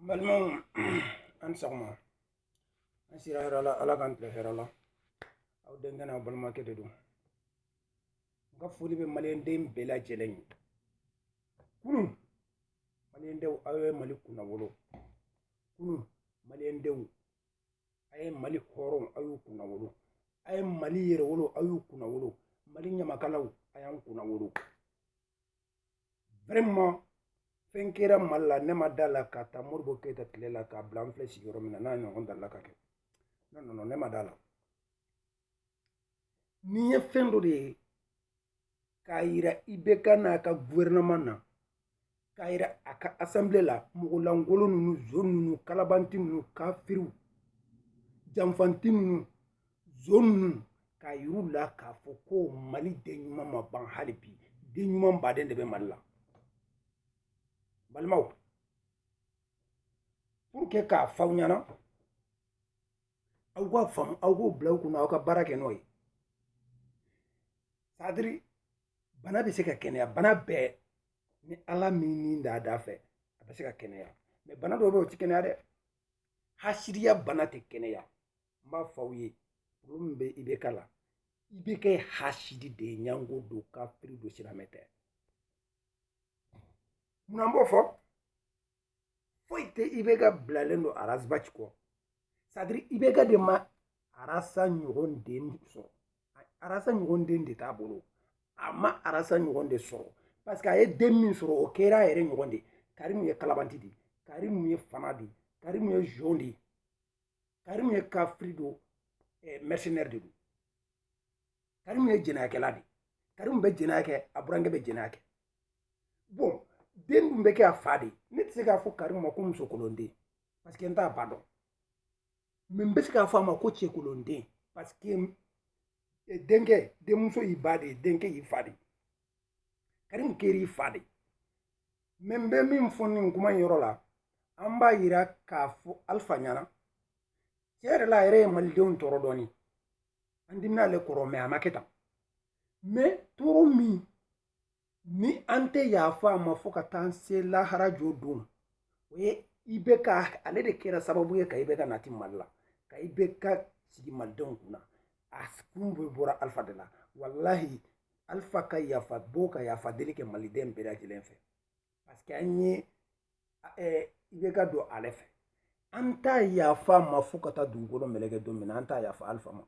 balimaw an ni sɔgɔma an sira hɛrɛ la ala k'an tile hɛrɛ la aw denkɛ n'aw balimakɛ de don n ka foli bɛ maliyɛnden bɛɛ lajɛlen ye kunun maliyɛndenw aw ye mali kunnawolo kunun maliyɛndenw a ye mali hɔrɔnw aw y'u kunnawolo a ye mali yɛrɛwolo aw y'u kunnawolo mali ɲamakalaw a y'an kunnawolo vraiment fɛn kɛra mali la ne ma da a la k'a ta moribo keyita tile la k'a bila n filɛ sigiyɔrɔ min na n'a ɲɔgɔn dalila ka kɛ non non non ne ma da a la nin ye fɛn dɔ de ye k'a yira IBK n'a ka gouvernement na k'a yira a ka assemblée la mɔgɔ lankolon ninnu zon ninnu kalabanti ninnu kafiriw janfanti ninnu zon ninnu k'a yir'u la k'a fɔ ko mali den ɲuman ma ban hali bi den ɲuman baden de bɛ mali la balimaw pour que k'a fɔ aw ɲɛna aw k'a faamu aw k'o bila aw kunna aw ka baara kɛ n'o ye c'est-à-dire bana bɛ se ka kɛnɛya bana bɛɛ ni ala m'i ni d'a dafɛ a bɛ se ka kɛnɛya mais bana dɔ bɛ yen o tɛ kɛnɛya dɛ hasidiya bana tɛ kɛnɛya n b'a fɔ aw ye min bɛ IBK la IBK hasidi de ye ɲango don kafiri don silamɛ tɛ munna n b'o fɔ foyi tɛ IBK bilalen don Ras Bath kɔ c'est-à-dire IBK de ma Ras ɲɔgɔn den sɔrɔ Ras ɲɔgɔn den de t'a bolo a ma Ras ɲɔgɔn de sɔrɔ parce que a ye den min sɔrɔ o kɛra a yɛrɛ ɲɔgɔn de karimu ye kalabanti de karimu ye fana de karimu ye zon de Karim ye kafiri don eh, mercenaire de don Karim ye jɛnɛyakɛla de Karim bɛ jɛnɛya kɛ a burankɛ bɛ jɛnɛya kɛ bon den dun bɛ kɛ a fa de ne tɛ se k'a fɔ Karim ma ko musokolonden parce que n t'a ba dɔn mais n bɛ se k'a fɔ a ma ko cɛkolonden parce que eh, denkɛ denmuso y'i ba de ye denkɛ y'i fa de ye karimu kɛr'i fa de mais n bɛ min fɔ nin kuma in yɔrɔ la an b'a yira k'a fɔ alifa ɲɛna tiɲɛ yɛrɛ la a yɛrɛ ye malidenw tɔɔrɔ dɔɔni an dimina ale kɔrɔ mais a ma kɛ tan mais tɔɔrɔ min ni an tɛ yafa a ma fo ka taa an se lahara jɔ don o ye IBK ale de kɛra sababu ye ka IBK nati mali la ka IBK sigi malidenw kunna a kun bɛɛ bɔra alifa de la walahi alifa ka yafa bɔ ka yafa deli kɛ maliden bɛɛ lajɛlen fɛ parce que an ye ibeka dɔn ale fɛ an t'a yafa ma fo ka taa dugukolo meleke don min na an t'a yafa alifa ma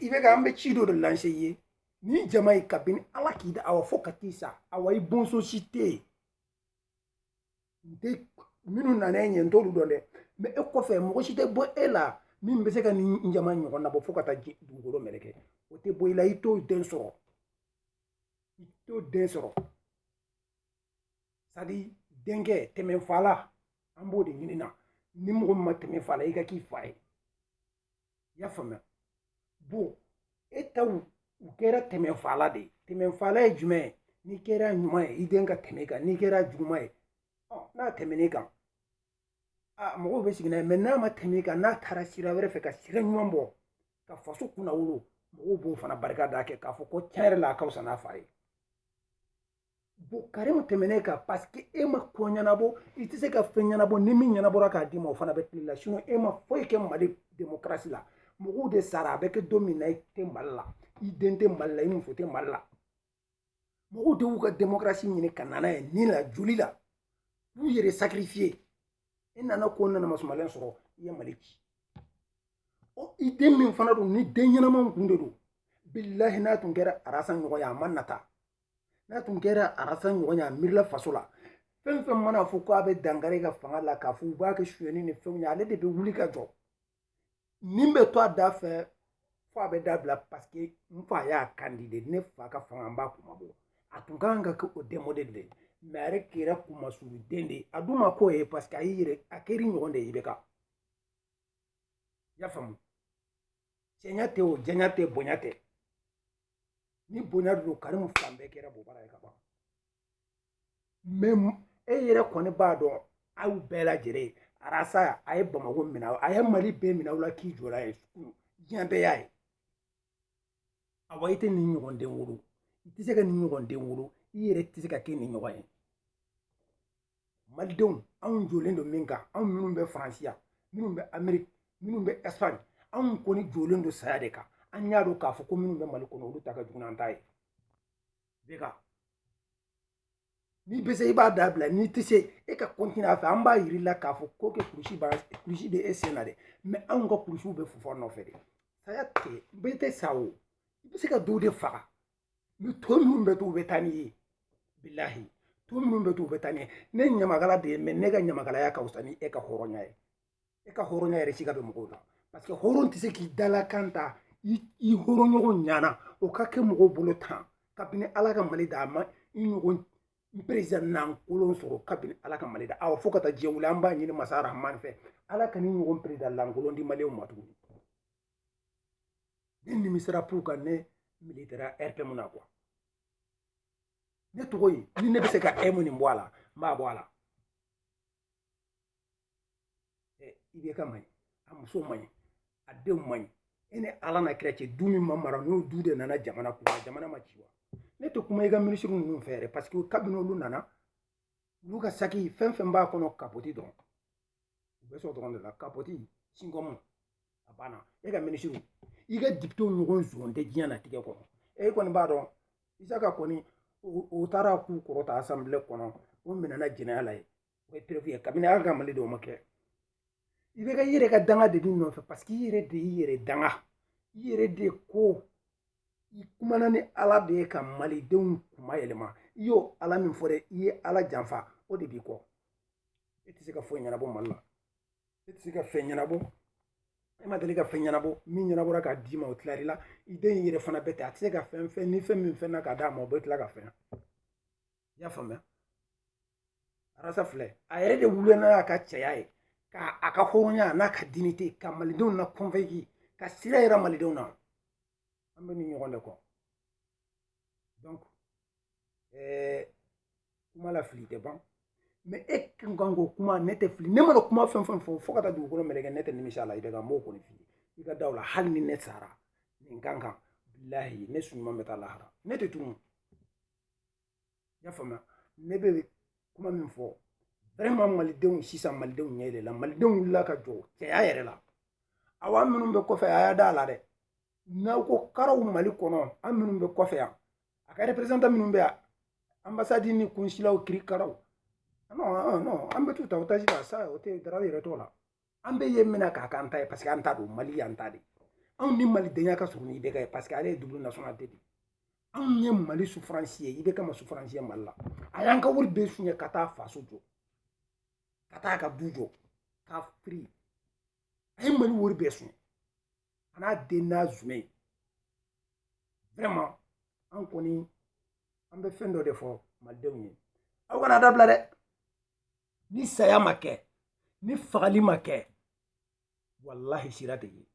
ibeka an bɛ ci dɔ de lanse i ye nin jama ye kabini ala k'i da awa fo ka t'i sa awa i bɔnsɔn si tɛ yen n tɛ minnu nana e ɲɛ n t'olu dɔn dɛ mɛ e kɔfɛ mɔgɔ si tɛ bɔ e la min bɛ se ka nin jama ɲɔgɔn nabɔ fo ka taa dugukolo meleke o tɛ bɔ i la i t'o den sɔrɔ i t'o den sɔrɔ sadi denkɛ tɛmɛ fa la an b'o de ɲini na ni mɔgɔ min ma tɛmɛ fa la i ka k'i fa ye i y'a faamuya bon e taw u kɛra tɛmɛfala de ye tɛmɛfala ye jumɛn ye n'i kɛra ɲuman ye i den ka tɛm'i kan n'i kɛra juguman ye n'a tɛmɛn'i kan mɔgɔw bɛ sigi n'a ye mɛ n'a ma tɛm'i kan n'a taara sira wɛrɛ fɛ ka sira ɲuman bɔ ka faso kunnawolo mɔgɔw b'o fana barika da kɛ k'a fɔ ko tiɲɛ yɛrɛ la a ka fisa n'a fa ye karimu tɛmɛn'i kan paseke e ma ko ɲɛnabɔ i tɛ se ka fɛn ɲɛnabɔ ni min ɲɛnabɔra k'a d'i ma o fana bɛ tiɲ'i la e ma foyi kɛ mali demokarasi la mɔgɔw de sara a bɛ kɛ don min na i tɛ mali la i den tɛ mali la i muso tɛ mali la mɔgɔw de y'u ka demokarasi ɲini ka na n'a ye ni la joli la u y'u yɛrɛ sakirifiye i nana ko nana masumalen sɔrɔ i ye mali ci i den min fana don ni den ɲɛnama kun de don bilahi n'a tun kɛra arasa ɲɔgɔn ye a ma nata n'a tun kɛra arasa ɲɔgɔn ye a miirila faso la fɛn fɛn mana fɔ ko a bɛ dankari e ka fanga la k'a fɔ u b'a kɛ suɲɛni ni fɛnw ye ale de bɛ wuli ka jɔ nin bɛ to a da fɛ fo a bɛ dabila paseke n fa y'a kan di de ne fa ka fanga n b'a kunmabɔ a tun ka kan ka kɛ o den modɛli de ye mɛ a yɛrɛ kɛra kunmasuruden de ye a dun ma k'o ye paseke a y'i yɛrɛ a kɛr'i ɲɔgɔn de ye ibeka i y'a faamu cɛɲa tɛ o janya tɛ bonya tɛ ni bonya don karimu fan bɛɛ kɛra bobara ye ka ban mɛ e yɛrɛ kɔni b'a dɔn aw bɛɛ lajɛlen arasa a ye bamako minɛ a ye mali bɛɛ minɛ aw la k'i jɔra ye diɲɛ bɛɛ y'a ye awa i tɛ nin ɲɔgɔn den wolo i tɛ se ka nin ɲɔgɔn den wolo i yɛrɛ tɛ se ka kɛ nin ɲɔgɔn ye malidenw anw jɔlen don min kan anw minnu bɛ faransi yan minnu bɛ ameriki minnu bɛ ɛsipaɲi anw kɔni jɔlen don saya de kan an y'a dɔn k'a fɔ ko minnu bɛ mali kɔnɔ olu ta ka jugu n'an ta ye ibeka n'i bɛ se i b'a dabila n'i tɛ se e ka kɔntini a fɛ an b'a yir'i la k'a fɔ ko kɛ kurusiba kurusi bɛ e sen na dɛ mɛ anw ka kurusiw bɛ fɔf'an nɔfɛ de saya tɛ bɛɛ tɛ sa o i bɛ se ka dɔw de faga ni tɔ minnu bɛ to u bɛ taa n'i ye bilahi tɔ minnu bɛ to u bɛ taa n'i ye ne ɲamakala de ye mɛ ne ka ɲamakalaya ka fisa ni e ka hɔrɔnya ye e ka hɔrɔnya yɛrɛ sika bɛ mɔgɔw la parce que hɔrɔn tɛ se k'i dalakan ta i hɔrɔnɲɔgɔn ɲana o ka kɛ mɔgɔw bolo tan kabini ala ka mali da a ma i ɲɔgɔn perezidan lankolon sɔrɔ kabini ala ka mali da awa fo ka taa diɲɛ wuli an b'a ɲini masa rahman fɛ ala kana i ɲɔgɔn perezidan lankolon di maliyɛnw ma tuguni ne nimisara pour que ne militera rpm na quoi ne tɔgɔ ye ni ne bɛ se ka emu nin bɔ a la n b'a bɔ a la eh, ibk man ɲi a muso man ɲi a denw man ɲi e ni ala n'a kira cɛ du min ma mara n'o du de nana jamana kunna jamana ma ci wa ne tɛ kuma i ka minisiri ninnu fɛ yɛrɛ parce que kabini olu nana olu ka saki fɛn fɛn b'a kɔnɔ kapoti dɔrɔn u bɛ sɔrɔ dɔrɔn de la kapoti sinkɔmu a banna e ka minisiriw i ka depitew ɲɔgɔn zon tɛ diɲɛnatigɛ kɔnɔ e kɔni b'a dɔn isaka kɔni u taara k'u kɔrɔta asanbile kɔnɔ u minɛna jɛnɛya la yen o ye perefu ye kabini ala ka mali da o ma kɛ ibk i yɛrɛ ka danga de b'i nɔfɛ paseke i yɛrɛ de y'i yɛrɛ danga i yɛrɛ de ko i kumana ni ala de ye ka malidenw kuma yɛlɛma i y'o ala min fɔ dɛ i ye ala janfa o de b'i kɔ i e tɛ se ka foyi ɲɛnabɔ mali la i e tɛ se ka fɛn ɲɛnabɔ e ma deli ka fɛn ɲɛnabɔ min ɲɛnabɔra k'a d'i ma o tilar'i la i den in yɛrɛ fana bɛ ten a tɛ se ka fɛn fɛn ni fɛn min fɛnna k'a d'a ma o bɛ tila ka fɛn i y'a faamuya arasa filɛ a yɛrɛ de wulila n'a ka cɛya ye ka a ka hɔrɔnya n'a ka dignité ka malidenw na convaincre ka sira yira malidenw na an bɛ nin ɲɔgɔn de kɔ donc eh, kuma la fili tɛ ban mais e kun kan ko kuma ne tɛ fili ne mana kuma fɛn fɛn fɔ fo ka taa dugukolo meleke ne tɛ nimisa la ibk n b'o kɔni f'i ye i ka da o la hali ni ne sara nin kan kan bilahi ne su ɲuman bɛ taa lahara ne tɛ tunu i y'a faamuya ne bɛ kuma min fɔ vraiment malidenw sisan malidenw ɲɛ yɛlɛla malidenw wulila ka jɔ cɛya yɛrɛ la awa minnu bɛ kɔfɛ a y'a da a la dɛ n'aw ko karaw mali kɔnɔ an minnu bɛ kɔfɛ yan a ka représentant minnu bɛ yan anbasadi ni kunsilaw kiri karaw non non an bɛ t'u ta otazi la sa o tɛ daraw yɛrɛ t'o la an bɛ yen mina k'a k'an ta ye paseke an ta don mali y'an ta de anw ni malidenya ka surun ni ibk ye paseke ale ye double nationalité de ye anw ye mali sufaransi ye ibk ma sufaransi ye mali la a y'an ka wari bɛɛ suɲɛ ka t'a faso jɔ ka t'a ka du jɔ ka firi a ye mali wari bɛɛ suɲɛ a n'a den n'a jumɛn vraiment an kɔni an bɛ fɛn dɔ de fɔ malidenw ye aw kana dabila dɛ ni saya ma kɛ ni fagali ma kɛ walahi sira tɛ yen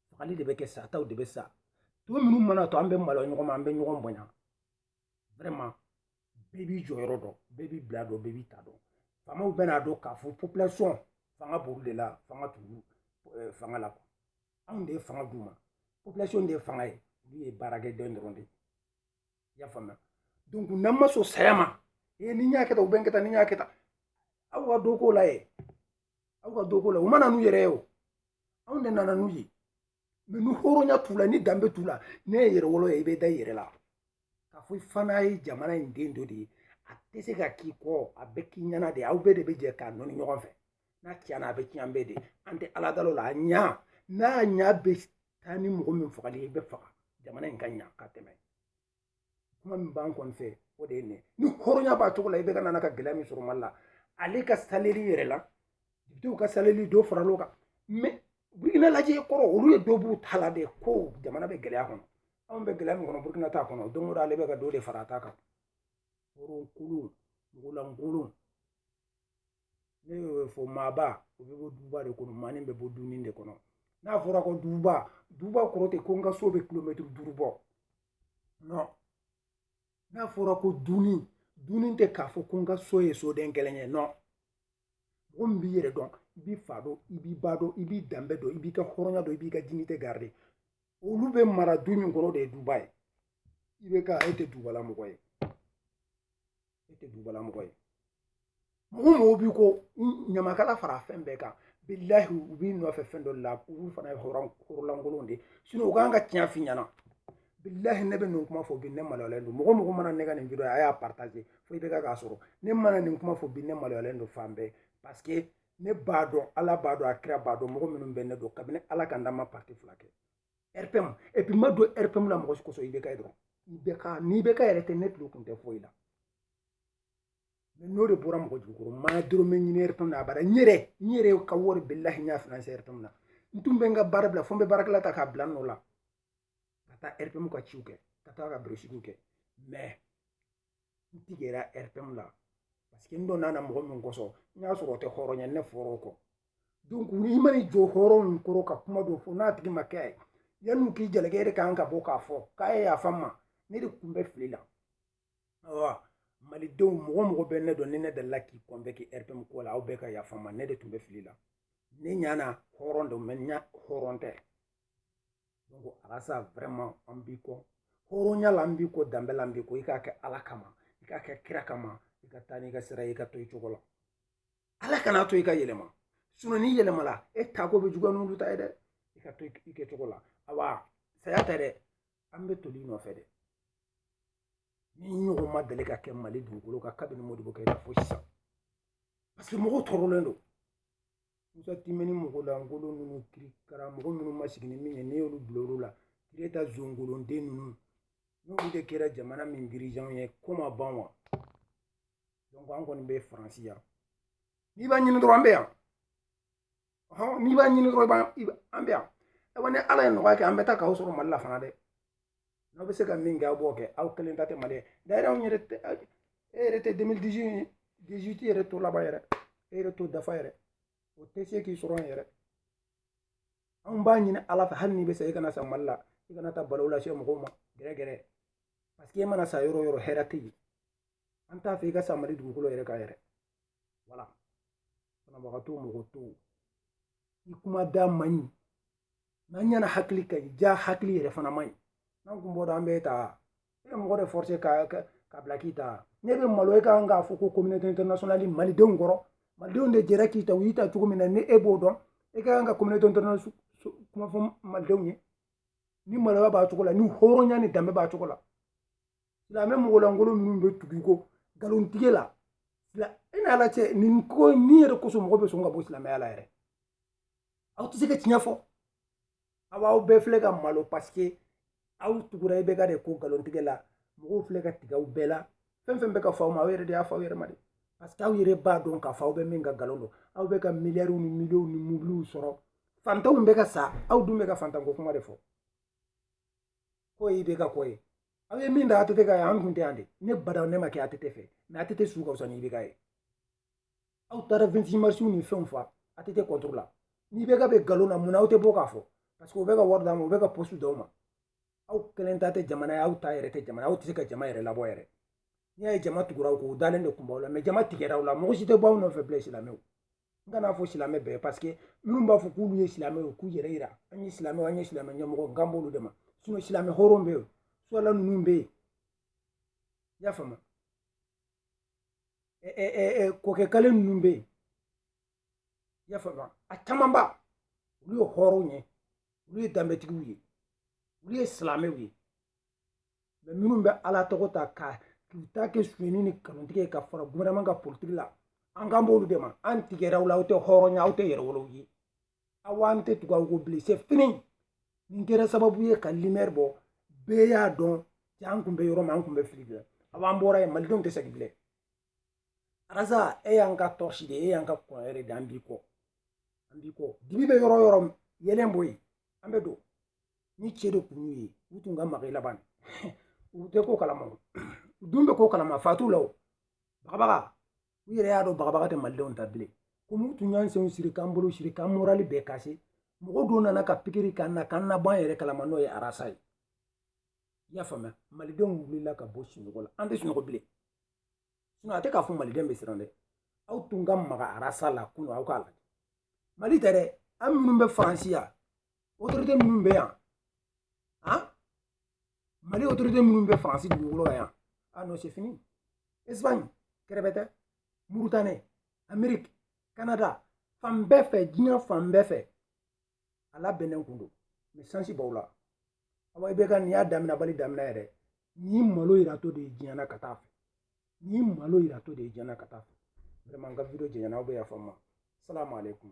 fagali de bɛ kɛ sataw de bɛ sa tɔ minnu mana to an bɛ malo ɲɔgɔn ma an bɛ ɲɔgɔn bonya vraiment bɛɛ b'i jɔyɔrɔ dɔn bɛɛ b'i bila dɔn bɛɛ b'i ta dɔn faamaw bɛn'a dɔn k'a fɔ population fanga b'olu de la fanga t'olu eh, fanga la quoi anw de ye fanga d'u ma population de ye fanga ye olu ye baarakɛden dɔrɔn de ye i y'a faamuya donc n'an ma sɔn saya ma ee ni n y'a kɛ tan u bɛ n kɛ tan ni n y'a kɛ tan aw ka dɔ k'o la ye aw ka dɔ k'o la u ma na n'u yɛrɛ ye o anw de nana n'u ye mais ni hɔrɔnya t'u la ni danbe t'u la n'i ye yɛrɛwolo ye i bɛ da i yɛrɛ la k'a fɔ i fana ye jamana in den dɔ de ye a tɛ se ka k'i kɔ a bɛ k'i ɲɛna de aw bɛɛ de bɛ jɛ k'a nɔni ɲɔgɔn fɛ n'a tiɲɛna a bɛ tiɲɛ an bɛɛ de an tɛ ala dal'o la a ɲa n'a ɲa bɛ taa ni mɔgɔ min fagali ye i bɛ faga jamana in ka ɲa ka tɛmɛ kuma min b'an kɔni fɛ o de ye nin ye ni hɔrɔnya b'a cogo la ibk nana ka gɛlɛya min sɔrɔ mali la ale ka salɛri yɛrɛ la depitew ka salɛri dɔ faral'o kan mais burukina lajɛ kɔrɔ olu ye dɔ b'u ta la de ko jamana bɛ gɛlɛya kɔnɔ anw bɛ gɛlɛya min kɔnɔ burukina t'a kɔnɔ don o don ale bɛ ka dɔ de fara a ta kan hɔrɔnkolon mɔgɔlankolon ne y'o fɔ maaba o bɛ bɔ duba de kɔnɔ maanin bɛ bɔ dunin de kɔnɔ n'a fɔra ko duba duba kɔrɔ tɛ ko n ka so bɛ kilomɛtiri duuru bɔ non n'a fɔra ko dunin dunin tɛ k'a fɔ ko n ka so ye soden kelen ye non mɔgɔ min b'i yɛrɛ dɔn i b'i fa dɔn i b'i ba dɔn i b'i danbe dɔn i b'i ka hɔrɔnya dɔn i b'i ka dignité garder olu bɛ mara du min kɔnɔ de ye duba ye ibk e tɛ dubala mɔgɔ ye e tɛ dubala mɔgɔ ye mɔgɔ mɔgɔw b'i kɔ ɲamakala fara fɛn bɛɛ kan bilahi u b'i nɔfɛ fɛn dɔ la olu fana ye hɔrɔnlankolon de ye u kan ka tiɲɛ f'i ɲɛna bilahi ne bɛ nin kuma fɔ bi ne maloyalen don mɔgɔ mɔgɔ mana ne ka nin video a y'a partager fo ibk k'a sɔrɔ ne mana nin kuma fɔ bi ne maloyalen don fan bɛɛ parce que ne b'a dɔn ala b'a dɔn a kira b'a dɔn mɔgɔ minnu bɛ ne dɔn kabini ala ka n da n ma parti fila kɛ rpm et puis n ma don rpm na mɔgɔ si kosɔn ibk ye dɔrɔn ibk n'ibk yɛrɛ tɛ ne tulo kun tɛ foyi la mais n'o de bɔra mɔgɔ jugukɔrɔ n ma dɔrɔmɛ ɲini rpm na abada n yɛrɛ n yɛrɛ ka wari bilahi n y'a finance rpm na n tun bɛ n ka baara bila fo n bɛ baarakɛla ta k'a bila n nɔ la ka taa rpm ka ciw kɛ ka taa ka birosigiw kɛ mais n tigɛra rpm la parce que n donn'a na mɔgɔ min kosɔn n y'a sɔrɔ o tɛ hɔrɔn ye ne fɔra o kɔ donc i man'i jɔ hɔrɔn min kɔrɔ ka kuma dɔ fɔ n'a tigi m'a kɛ yanni k'i jalaki e de kan ka bɔ k'a fɔ k'a ye yafa n ma ne de tun bɛ fili la awa malidenw mɔgɔ mɔgɔ bɛ ne dɔn ni ne dalila k'i convaincre rpm ko la aw bɛɛ ka yafa n ma ne de tun bɛ fili la ne ɲana hɔrɔn don mais jaa hɔrɔn tɛ donc arasa vraiment an b'i kɔ hɔrɔnya la an b'i kɔ danbe la an b'i kɔ i k'a kɛ ala kama i k'a kɛ kira kama i ka taa n'i ka sira ye i ka to i cogo la ala kana to i ka yɛlɛma sinɔn n'i yɛlɛmala e ta ko bɛ juguya n'olu ta ye dɛ i ka to i kɛcogo la awa saya tɛ dɛ an bɛ toli i nɔfɛ dɛ nin ɲɔgɔn ma deli ka kɛ mali dugukolo kan kabini modibo keyita fo sisan parce que mɔgɔw tɔɔrɔlen don musa timbine mɔgɔ lankolon ninnu kirikara mɔgɔ minnu ma sigi ni min ye ne y'olu bila olu la kire ta zongolonden ninnu n'olu de kɛra jamana min dirigeants ye ko ma ban wa donc an kɔni bɛ faransi yan n'i b'a ɲini dɔrɔn an bɛ yan n'i b'a ɲini dɔrɔn i b'a an bɛ yan ayiwa ni ala ye nɔgɔya kɛ an bɛ taa k'aw sɔrɔ mali la fana dɛ n'aw bɛ se ka min kɛ aw b'o kɛ aw kelen ta tɛ mali ye d'ailleurs anw yɛrɛ tɛ e yɛrɛ tɛ deux mille dix-huit yɛrɛ t'o laban yɛrɛ e yɛrɛ t'o dafa yɛrɛ o tɛ se k'i sɔrɔ yɛrɛ anw b'a ɲini ala fɛ hali n'i bɛ sa i kana sa mali la i kana taa balawu lase mɔgɔw ma gɛrɛgɛrɛ parce que e mana sa yɔrɔ o yɔrɔ hɛrɛ tɛ yen an t'a fɛ i ka sa mali dugukolo yɛrɛ kan yɛrɛ voilà banabagatɔ mɔgɔ to i kuma da man ɲi n'an ɲɛna hakili ka ɲi jaa hakili yɛrɛ fana man ɲi n'an kun b'o dɔn an b'e ta e bɛ mɔgɔ de forcer ka ka bila k'i ta ne bɛ malo e kan k'a fɔ ko communauté internationale malidenw kɔrɔ malidenw de jɛra k'i ta u y'i ta cogo min na ni e b'o dɔn e ka kan ka communauté internationale kuma fɔ malidenw ye ni maloya b'a cogo la ni hɔrɔnya ni danbe b'a cogo la silamɛ mɔgɔlankolon minnu bɛ tugu i kɔ nkalontigɛ la e n'a la cɛ nin ko nin yɛrɛ kosɔn mɔgɔ bɛ sɔn ka bɔ silamɛya la yɛrɛ aw tɛ se ka tiɲɛ fɔ aw b'aw bɛɛ filɛ ka malo parce que aw tugura IBK de kɔ nkalontigɛ la mɔgɔw filɛ ka tigɛ aw bɛɛ la fɛn fɛn bɛ ka fɔ aw ma aw yɛrɛ de y'a fɔ aw yɛrɛ ma de parce que aw yɛrɛ b'a dɔn k'a fɔ aw bɛ min kan nkalon don aw bɛ ka miliyariw ni miliyɔnw ni mobiliw sɔrɔ fantanw bɛ ka sa aw dun bɛ ka fantanko kuma de fɔ ko IBK ko ye aw ye min da ATT kan ye an kun tɛ yan de ne bada ne ma kɛ ATT fɛ mais ATT su ka fisa ni IBK ye aw taara 26 marisiw ni fɛnw fa ATT contre la ni IBK bɛ nkalon na mun na aw tɛ bɔ k'a fɔ parce que u bɛ ka wari d'aw ma u bɛ ka poste d'aw ma aw kelen ta tɛ jamana ye aw ta yɛrɛ tɛ jamana aw tɛ se ka jama yɛrɛ labɔ yɛrɛ n'i y'a ye jama tugura aw kɔ u dalen de kun b'aw la mais jama tigɛra aw la mɔgɔ si tɛ bɔ aw nɔfɛ bilen silamɛw n kana fɔ silamɛ bɛɛ parce que minnu b'a fɔ k'olu ye silamɛ ye k'u yɛrɛ yira an ye silamɛw an ye silamɛ ɲɛmɔgɔ n kan b'olu de ma sinɔn silamɛ hɔrɔn bɛ yen suwala ninnu bɛ yen i y'a faamu kɔkɛ kale ninnu bɛ yen i y'a faamu a camanba olu ye hɔrɔnw ye olu ye danbetigiw ye olu ye silamɛw ye mais minnu bɛ ala tɔgɔ ta ka k'u ta kɛ sonyani ni nkalontigɛ ye ka fara gouvernement kan politique la an kan b'olu de ma an tigɛra aw la aw tɛ hɔrɔn ye aw tɛ yɛrɛwolow ye aw an tɛ tugu aw kɔ bilen c'est fini nin kɛra sababu ye ka limɛri bɔ bɛɛ y'a dɔn cɛ an kun bɛ yɔrɔ min an kun bɛ fili bila aw an bɔra yen malidenw tɛ segin bilen arasa e y'an ka tɔrɔsi de e y'an ka kɔn yɛrɛ de an b'i kɔ an b'i kɔ dibi bɛ yɔrɔ o yɔrɔ yeelen bɔ yen an bɛ don ni cɛ de kun y'u ye u tun ka maga i la ban u tɛ ko kalama u dun bɛ ko kalama fa t'u la o bagabaga u yɛrɛ y'a dɔn bagabaga tɛ malidenw ta bilen komi u tun y'an senw siri k'an bolo siri k'an morali bɛɛ kase mɔgɔ dɔ nana ka pikiri k'an na k'an nabɔ an yɛrɛ kalama n'o ye arasa ye i y'a faamuya malidenw wulila ka bɔ sunɔgɔ la an tɛ sunɔgɔ bilen sinɔn a tɛ k'a fɔ maliden bɛ siran dɛ aw tun ka maga arasa la kunun aw k'a lajɛ mali tɛ dɛ an minnu bɛ faransi yan otorite minnu bɛ yan mali otorite minnu bɛ faransi dugukolo kan yan ah non c'est fini espagne kɛrɛbɛtɛ mauritanie amerique canada fan bɛɛ fɛ diɲɛ fan bɛɛ fɛ a labɛnnen kun don mɛ sansi b'aw la awa IBK nin y'a daminɛbali daminɛ yɛrɛ nin malo yiratɔ de ye diɲɛ na ka taa a fɛ nin malo yiratɔ de ye diɲɛ na ka taa a fɛ vraiment n ka video janyana aw bɛ yafa n ma salamu aleykum